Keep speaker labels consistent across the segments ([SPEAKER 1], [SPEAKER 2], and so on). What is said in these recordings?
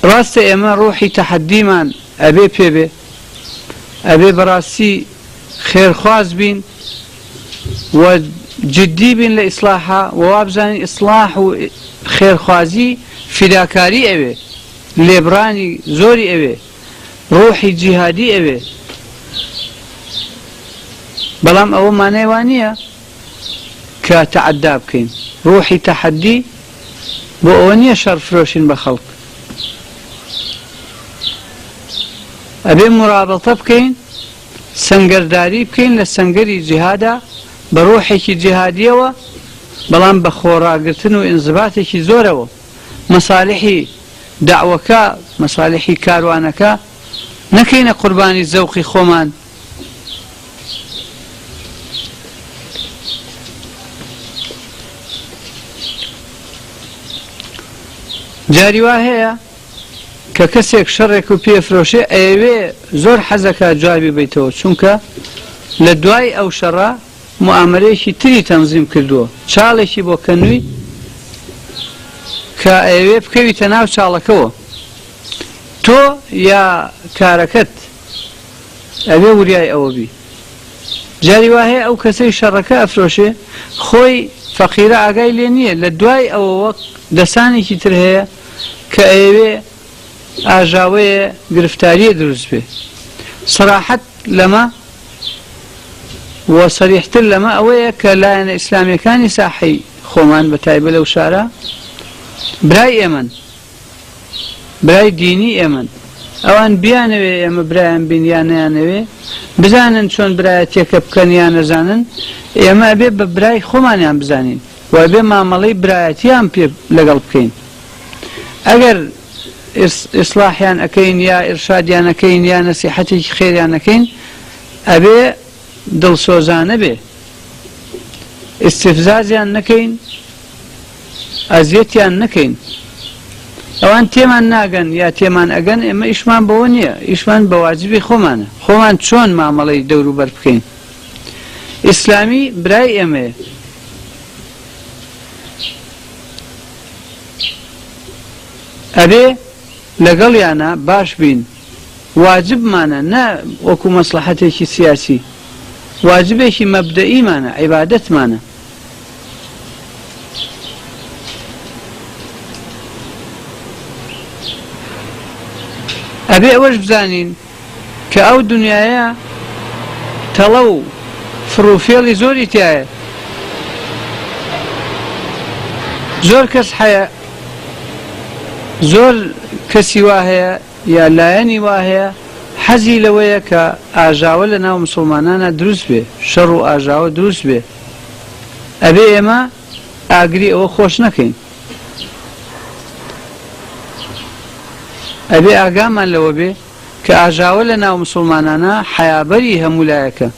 [SPEAKER 1] ڕاستە ئێمە ڕوحی تەحەدیمان ئەبێ پێ بێ ئەبێ بەڕاستی خێرخواز بین و جدی بین لە ئیسلاحا و وابزانین ئیسلاح و خێرخوازی فیداکاری ئەوێ لێبڕانی زۆری ئەوێ ڕوحی جیهادی ئەوێ بەڵام ئەوە مانای وا نییە کە تەعەدا بکەین ڕوحی تەحەدی بۆ ئەوە نییە شەڕ فرۆشین بە خەڵک ئەبێ مڕابەڵتە بکەین سەنگەرداری بکەین لە سەنگەری جیهادا بە ڕۆحێکی جیهادییەوە بەڵام بە خۆڕاگرتن و ئینزباتێکی زۆرەوە و مەسالحی دەعوەکە مەسالحی کاروانەکە نەکەینە قوربانی زەوقی خۆمان جاری وا هەیە کە کەسێک شەڕێکو پێ فرۆشێ ئەیەوێ زۆر حەزەکا جوابی بەیتەوە چونکە لە دوای ئەو شەڕە موئامەرەیەکی تری تەنزیم کردووە چاڵێکی بۆ کەنووی کە ئەیەوێ بکەویتە ناو چاڵەکەوە تۆ یا کارەکەت ئەوێ وریای ئەوە بی جاری وایە ئەو کەسەی شەڕەکە ئەفرۆشێ خۆی فەقیرە ئاگای لێ نییە لە دوای ئەوەوە دەسانێکی تر هەیە کە ئەیەوێ ئاژاوەیێ گرفتاریێ دروست بێ سەراحەت لەمە و سەریحتر لەمە ئەوەیە کە لایەنە ئیسلامیەکانی ساحەی خۆمان بە تایبە لەو شارە برای ئێمەن برای دینی ئێمەن ئەوان بیانەوێ ئێمە برایان بین یا نیانەوێ بزانن چۆن برایەتێکە بکەن یا نەزانن ئێمە ئەبێ بە برای خۆمانیان بزانین وایبێ مامەڵەی برایەتیان پێ لەگەڵ بکەین ئەگەر ئیسڵاحیان ئەکەین یا ئیرشادیان ئەکەین یا نەسیحەتێکی خێریان ئەکەین ئەبێ دڵسۆزانە بێ ئیسفزازیان نەکەین ئەزیەتیان نەکەین ئەوان تێمان ناگەن یا تێمان ئەگەن ئێمە ئیشمان بەوە نییە ئیشمان بەواجبی خۆمانە خۆمان چۆن مامەڵەی دەوروبەر بکەین ئیسلامی برای ئێمەیە. ئەبێ لەگەڵیانا باش بین. واجبمانە نە وەکو مەسڵەحەتێکی سیاسی. واجبێکی مەبدەئیمانە، عیبادەتمانە. ئەبێ ئەوەش بزانین، کە ئەو دونیایە تەڵە و فڕ و فێڵی زۆری تیایە زۆر کەس حەیە زۆر کەسی وا هەیە یا لایەنی وا هەیە حەزی لەوەیە کە ئاژاوە لە ناو مسلمانانە دروست بێ شەڕ و ئاژاوە دروست بێ ئەبێ ئێمە ئاگری ئەوە خۆش نەکەین. ئەبێ ئاگامان لەوە بێ کە ئاژاوە لە ناو مسوڵمانانا حەیابەری هەموو لایەکە.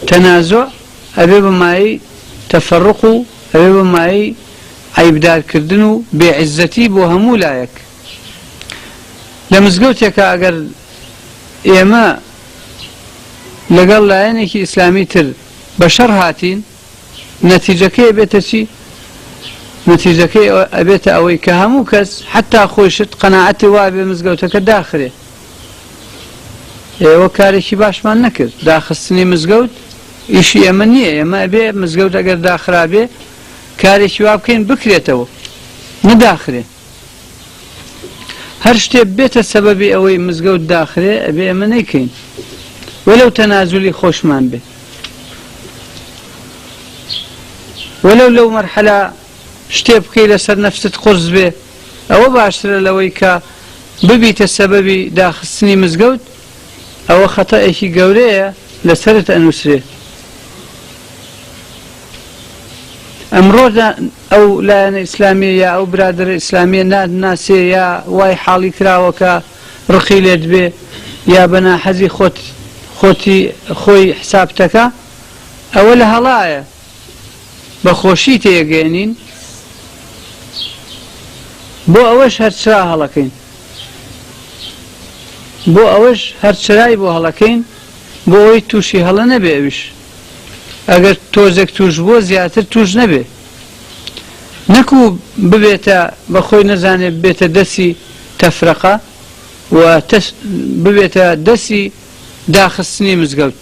[SPEAKER 1] تەنازوع ئەبێ بە مایەی تەفەڕوق و ئەبێ بە مایەی عەیبدار کردن و بێ عیززەتی بۆ هەموو لایەک. لە مزگەوتێکا ئەگەر ئێمە لەگەڵ لایەنێکی ئیسلامی تر بە شەڕ هاتین، نەتیجەکەی ئەبێتە چی؟ نەتیجەکەی ئەبێتە ئەوەی کە هەموو کەس حەتا خۆیشت قەناعەتی وابێ مزگەوتەکە داخرێ. ئێوە کارێکی باشمان نەکرد، داخستنی مزگەوت ئیشی ئێمە نییە، ئێمە ئەبێ مزگەوت ئەگەر داخرابێ کارێکی وا بکەین بکرێتەوە، نەداخرێ. هەر شتێ بێتە سەبەبی ئەوەی مزگەوت داخرێ ئەبێ ئێمە نەیکەین وەلەو تەنازولی خۆشمان بێ وەلەو لەو مەرحەلا شتێ بکەی لەسەر نەفست قرس بێ ئەوە باشترە لەوەی کە ببیتە سەبەبی داخستنی مزگەوت ئەوە خەتەئێکی گەورەیە لەسەرت ئەنووسرێ ئەمڕۆدا ئەو لایەنە ئیسلامیە یا ئەو برادەرە ئیسلامیە ناتناسێ یا وای حاڵی کراوە کە ڕقی لێت بێ یا بە ناحەزی خۆت خۆتی خۆی حسابتەکا ئەوە لە هەڵایە بە خۆشی تێگەێنین بۆ ئەوەش هەرچرا هەڵەکەین بۆ ئەوەش هەرچرای بۆ هەڵەکەین بۆ ئەوی تووشی هەڵە نەبێ ئەویش ئەگەر تۆزێک توشبووە زیاتر توش نەبێ نەکو ببێتە بە خۆی نەزانێت بێتە دەسی تەفرەقە و ببێتە دەسی داخستنی مزگەوت